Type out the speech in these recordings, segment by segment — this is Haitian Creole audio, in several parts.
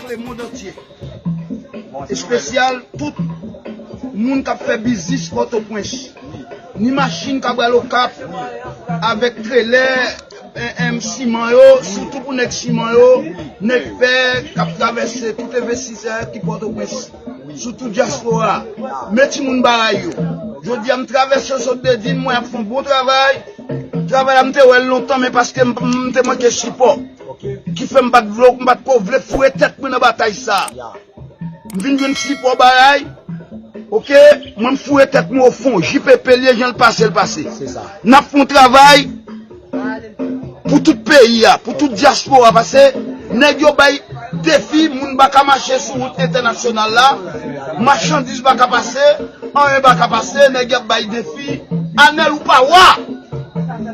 Frekle mond antye. Espesyal tout Moun kap fè biznis pòtopwens. Ni machin kap al okap avèk trelè siman yo sitou pou nèg siman yo, nèg fè kap travèse tout envestisè ki pòtopwens. sou tout diaspora a men timoun baray yo jodi a m travèse yo sot Bedin m wè y ap fè yon bon travay travay la m te wè l lontan men paske m te manke sipò ki fè m pa t vle m pa t ko vle foure tèt mwen nan batay sa m vin jwenn sipò baray ok mwen m foure tèt mwen o fon JPP l ye jan l pase l pase n ap fè yon travay. Pou tout peyi a, pou tout dyaspora pase, nèg yo bay defi moun pa ka mache sou wout entènasyonal la, machandiz pa ka pase, anyen pa ka pase, nèg y ap bay defi, Anèl ou pa wa!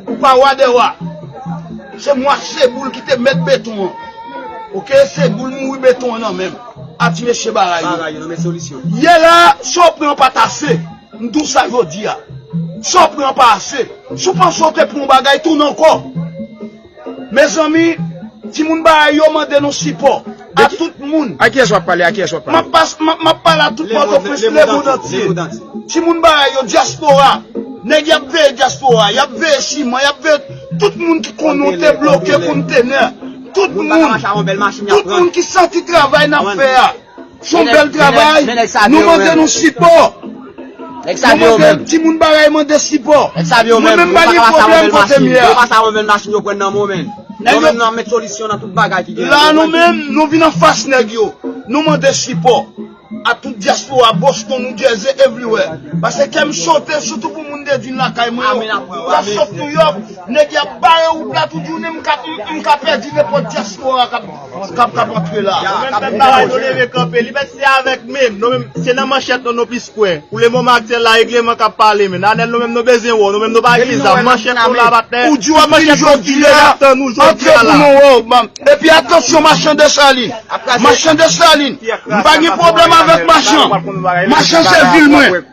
Ou pa wa dè wa! Se mwa Seboul ki te mèt beton an ok, Seboul mouri beton an nan men m, a ti mesye bara yo. Yè la, sa w pran an pa t ase. M di w sa jodi a, sa w pran pa ase. Si w panse w te pran yon bagay, tounen ankò. Mezanmi, timoun Baha'i yo mande nou sipò. A tout moun. A kiyès w ap pale? A kiyès w ap pale? M ap pale a tout Pòtoprens, lemondantye. Timoun Baha'i yo, dyaspora. Nèg y ap veye dyaspora, y ap veye siman, y ap veye tout moun ki konn nou te bloke kontenè. Tout moun. Tout moun ki santi travay n ap fè a. Son bel travay nou mande nou sipo nou mande ti moun bagay mande sipo mwen menm pa gen problem kote m ye a la nou menm nou vin anfas neg yo nou mande sipo a tout diaspora boston new jersey everywhere pase kem sote sitou pou moun de vin lakay mwen yo ou ta sot new york neg yap bare ou plat ou di ou menm m ka pedi nepot diaspora kap Kap kap antre la. Menm bagay nou leve kanpe. Li menm se avèk menm. Nou menm se nan manchèt nou nou plis kwè. Pou le moman aktyèl la regleman kap pale men. Nanel nou menm nou bezwen wè w. Nou menm nou pa gen zam. Manchèt nou la pa tè. Ou di wap vini jodi a. Antre pou nou wè w. Epi atansyon machan Desalin. Machan Desalin. M pa gen pwoblèm avèk machan. Machan se vil mwen.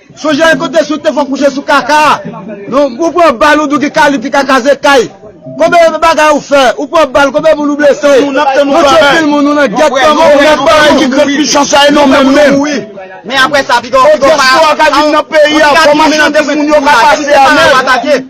Sonje yon kote si w te fon kouche sou kaka a non ou pran bal ou di w ki kalib ki kaka se kay konbyen bagay ou fè ou pran bal konbyen moun ou blese nou tye pil moun nou nan gèt kòman ou fè bagay ki grand michan sa e nou menm menm o dyaspora ka vin nan peyi a kòman chan timoun yo ka pase a menm.